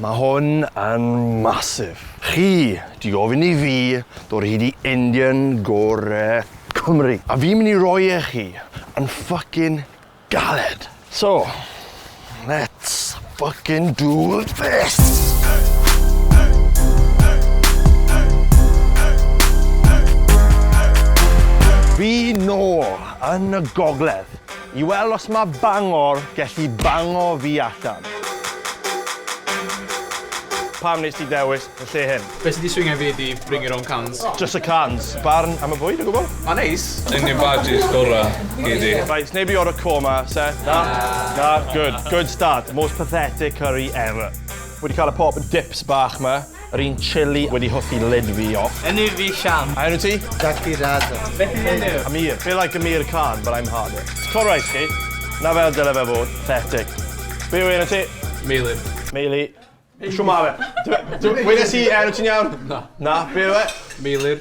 Mae hwn yn massive. Chi di gofyn i fi dod hyd i Indian gore Cymru, a fi'n mynd i roi e chi yn ffycin galed. So, let's ffycin do this! Fi nôl yn y gogledd. I weld os mae Bangor gellu bango fi allan. Pam wnest ti ddewis y lle hyn? Be sy 'di swingio i fi ydi bring your own cans. Jyst y cans. Barn am y bwyd o gwbl? Ma'n neis. Un o'r badges gorau gei di. Reit, sneb 'di ordro korma, Seth? Na. Na? Good. Good start. Most pathetic curry ever. Wedi cael y pork and dips bach 'ma. Yr un chilli wedi hoffi ledwi off. Enw fi Sian. A enw ti? Daki Rada. Beth yw enw? Amir. Be like Amir Khan but I'm harder. Cor rais chi. Na fel dyle fe fod. Pathetic. Be yw enw ti? Meili. Meili. Shwmae? Dw- dw- wedes i enw ti'n iawn? Na. Na? Be yw e? Meilir.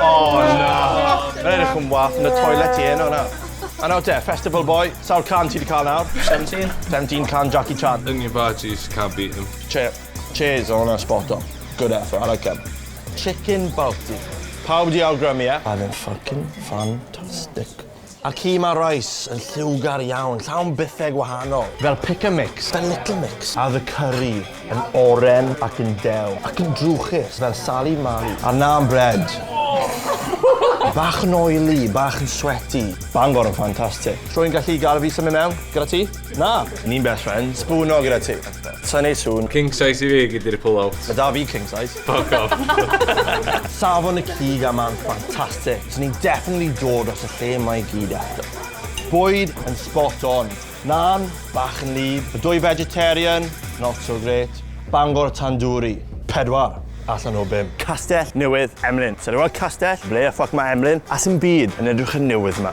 Oh na! Mae edrych yn wath yn y toilet i heno nawr. A nawr te, festival boy, sawl can ti 'di ca'l nawr? Seventeen. Seventeen can Jackie Chan. Yn your barges, can't beat 'em. Che- cheers o wnna'n spot on. Good effort, I like 'em. Chicken Balti. Pawb 'di awgrymu ie? A oedd e'n ffycin ffantastic. A'r ci ma Rice, yn lliwgar iawn, llawn bythau gwahanol. Fel pick a mix, fel little mix. A the curry, yn oren ac yn dew. Ac yn drwchus, fel Sali Mali. A'r naan bread. Bach yn oily, bach yn sweaty. Bangor yn ffantastic. Rwy'n gallu gael fi symud mewn, gyda ti? Na! Ni'n best friends. Spoono gyda ti. Sa'n neud sŵn. King size i fi, gei di ry pull out. Ma da fi king size. Fuck off. Safon y cig a ma'n ffantastic. Swn i'n definitely dod dros y lle mae i gyd eto. Bwyd yn spot on. Naan, bach yn wlyb. Y dwy vegetarian, not so great. Bangor Tandoori, pedwar allan o bum. Castell Newydd Emlyn. Sa i 'di weld castell, ble y ffwc mae Emlyn? A sdim byd yn edrych yn newydd 'ma.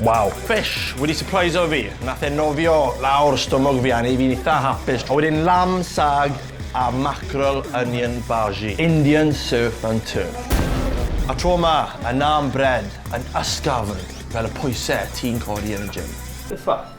Waw! Fish wedi sypreiso fi. Nath e nofio lawr stumog fi a neu' fi'n itha hapus. A wedyn lamb sag a mackerel onion bhaji. Indian surf and turf. A tro 'ma, y naan bread yn ysgafn fel y pwyse ti'n codi yn y gym. Beth fach.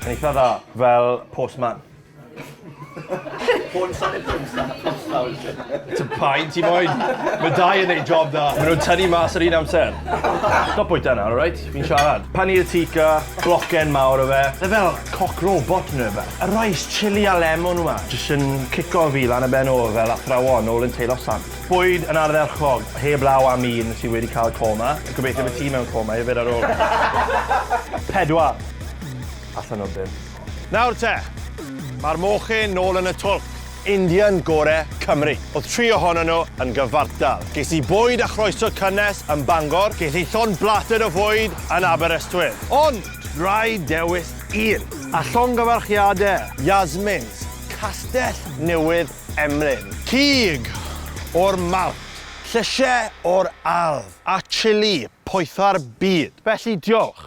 Yn eitha dda. Fel postman. Postman yn postman. Ti'n pain ti moyn. Mae dau yn ei job da. Mae nhw'n tynnu mas yr un amser. Stop bwyta nawr, alright? Fi'n siarad. Paneer tikka, blocen mawr o fe. Mae fel cock robot neu rhywbeth. A rice, chilli a lemon yma. Jyst yn cico fi lan y ben ôl fel athrawon ôl yn teilo sant. Bwyd yn ardderchog, heb law am un sydd wedi cael coma. Gobeithio bod ti mewn coma hefyd ar ôl. Pedwar. Allan o bump. Nawr te! Mae'r mochyn nôl yn y twlc. Indian gore Cymru. Oedd tri ohonyn nhw yn gyfartal. Ges i bwyd a chroeso cynnes yn Bangor, ges i llond blated o fwyd yn Aberystwyth. Ond! Rhaid dewis un! A llongyfarchiadau, Yasmins, Castell Newydd Emlyn. Cig o'r Mawnt, llysiau o'r ardd, a chili poetha'r byd. Felly diolch.